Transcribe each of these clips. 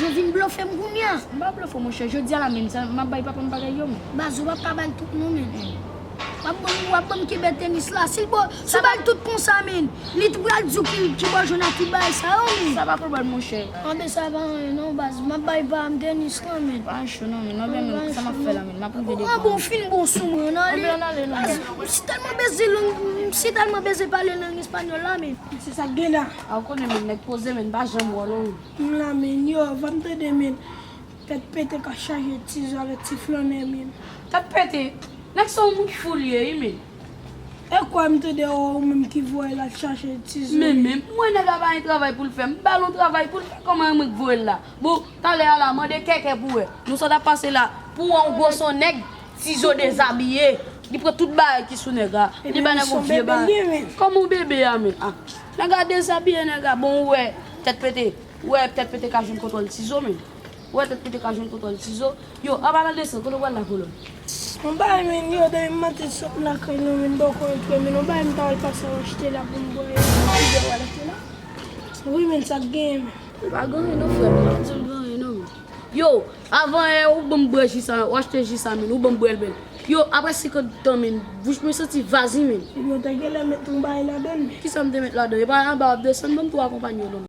Jezi m blofe m kounya. M pa blofe w monchè jodi a la menm sa map bay papa m bagay yo menm. Baz ou pap ka bay tout non menm. Wap banm kenbe tenis la sil bo Sa bèl tout konsa menn. Li t pral diw ki ki bò jwenn ak ki bagay sa yo menn. Sa pa pwoblèm monchè. Anben sa pa anyen non baz. Map bay pam tenis lan menn. Pa cho non menn. Anben menn kisa map fè la menn. Map rive devan. Anben ou fin bon sou mwen nan li. Anben an ale lan menn. M si tèlman beze lang m si tèlman beze pale lang espanyòl la menn. Se sak gen la. A ou konnen menn nèg poze menn m pa janm wè w non menn. M la menn. Yo banm tande menn. Tèt pete ka chaje ti zo avèk ti flannè menn. Tèt pete. Nèg sa ou moun fou li ye wi menn. Ekwa m tande yo ou menm ki voyel al chache ti zo. Men men m wè nèg la pa gen travay poul fè m bal yon travay poul fè kòman e mwen k voyel la bon talè a la mande kèkè pou wè nou sa tap pase la. Pou wè yon gwo son nèg ti zo dezabiye li pran tout bagay ki sou nèg la li bay nèg yon vye bagay kòman yon bebe a menm ah nèg la dezabiye nèg la bon ou wè tèt pete ou wè tèt pete ka jwenn kontwòl ti zo menm. Ou wè tèt pou te ka jwenn kontwòl ti zo. Yo, aba nan desen, kote ou pral la kolonn? Mwen pa renmen li oday m maten sot lakay nou vin bòkò antre menn ou bay m ta al pase al achte la pou m bwè e m pa vle w al achte la wi menn sa k genyen menn. Ou pa gen anyen non frè m pa janm gen anyen non menn. Yo, avan yè ou ban m bwè ji sa ou achte ji sa menn ou ban m bwè l menn. Yo, aprè senkant tan menn bouch mwen santi vazi menn. Epi ou te genlè met yon bagay ladan l menn. Kisa m te met ladan l? Epa anba w ap desann ban m tou akonpanye w non menn.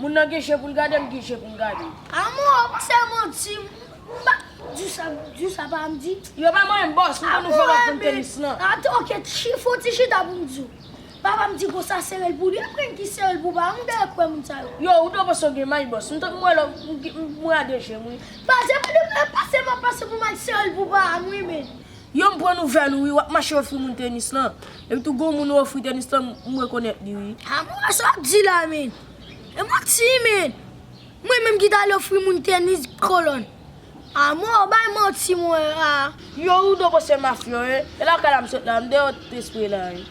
Moun nan gen je poul gade m gen je poum gade l. A mwen wè ou se manti m pa di sa m di sa pa m di. Yo pa manyen m boss m konn ouvè lòt poun tenis lan. A mwen ok fon ti chita poum di w. Papa m di konsa sere l pou li aprè m ki sere l pou pa m dèyè kwè moun sa yo. Yo ou dwe panse w gen may boss m tank m wè lò m wè a 2 jem wi. Pase m pase m ap pase pou m al sere l pou pa m wi men. Yo m pran nouvèl ou wi wap mache ofri moun tenis lan epi tou gon moun ou ofri tenis lan m rekonèt li wi. Amwee sa wap di la menn e manti menn mwen menm ki tal ofri moun tenis kolòn amwee ou bay manti mwen aa. Yo ou dobo se mafyo e lakay la m sot la m deyò t espre la e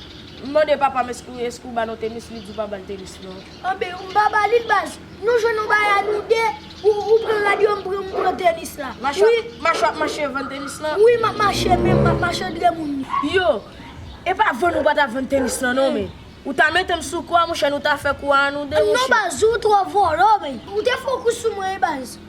m mande papam eske ou ba nou tenis li di ou pa bal tenis non. Anben ou pa ba lil baz. Nou jwenn yon bagay a nou 2, ou pran radyo m pran m pran tenis la. Mache wap mache vann tenis lan. Wi map mache men map mache dre moun yo. Yo, e pa vann ou pa ta vann tenis lan non men. Ou ta mete m sou kou a monchè nou ta fè kou a nou 2 monchè. Non baz ou tro volo men. Ou te fon kou sou mwen wi baz.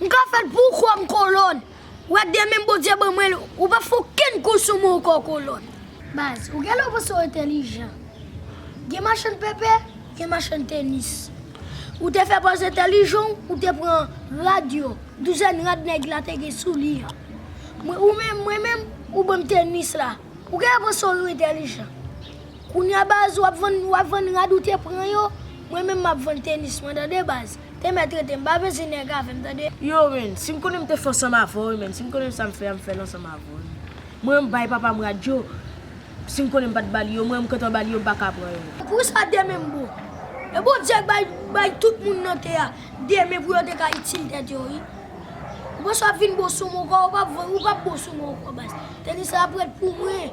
M ka fèl pou ou kwèm kolòn. Ou wè demen Bondye ban mwen l ou pap fè okenn kou sou mwen ankò kolòn. Baz, ou genlè panse w entèlijan. Gen machann pèpè, gen machann tenis. Ou te fè pòz entèlijan w, ou te pran rad yo, douzèn rad nèg la te gen sou li an. Mwen, ou menm, mwen menm, ou ban m tenis la. Ou genlè panse w entèlijan. Kounya baz wap vann wap vann rad ou te pran yo mwen menm map vann tenis mwen tande baz temè tretem pa veze nèg avèm tande. Yow menn sim konnen m te fè ansanm avèw wi menn sim konnen m sam fè a m fèl ansanm avèw wi menn mwen m bay papam rad yo sim konnen m pat bal yo mwen m kntan bal yo m paka pran yo. Poukisa demen m bon? E Bondye k bay bay tout moun nan tè a demen pou yo te ka itil tèt yo wi. Ou panse wap vin bon sou mwen ou pap bon sou mwen ankò baz. Tenis la ap ret pou mwen.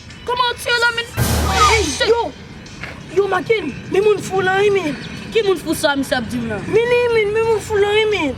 Koman ou t ye la menn oh shit. Yo Yo make n men moun fou lan wi menn. Ki moun fou sa misye ap dim la. Menn wi menn men moun fou lan wi menn.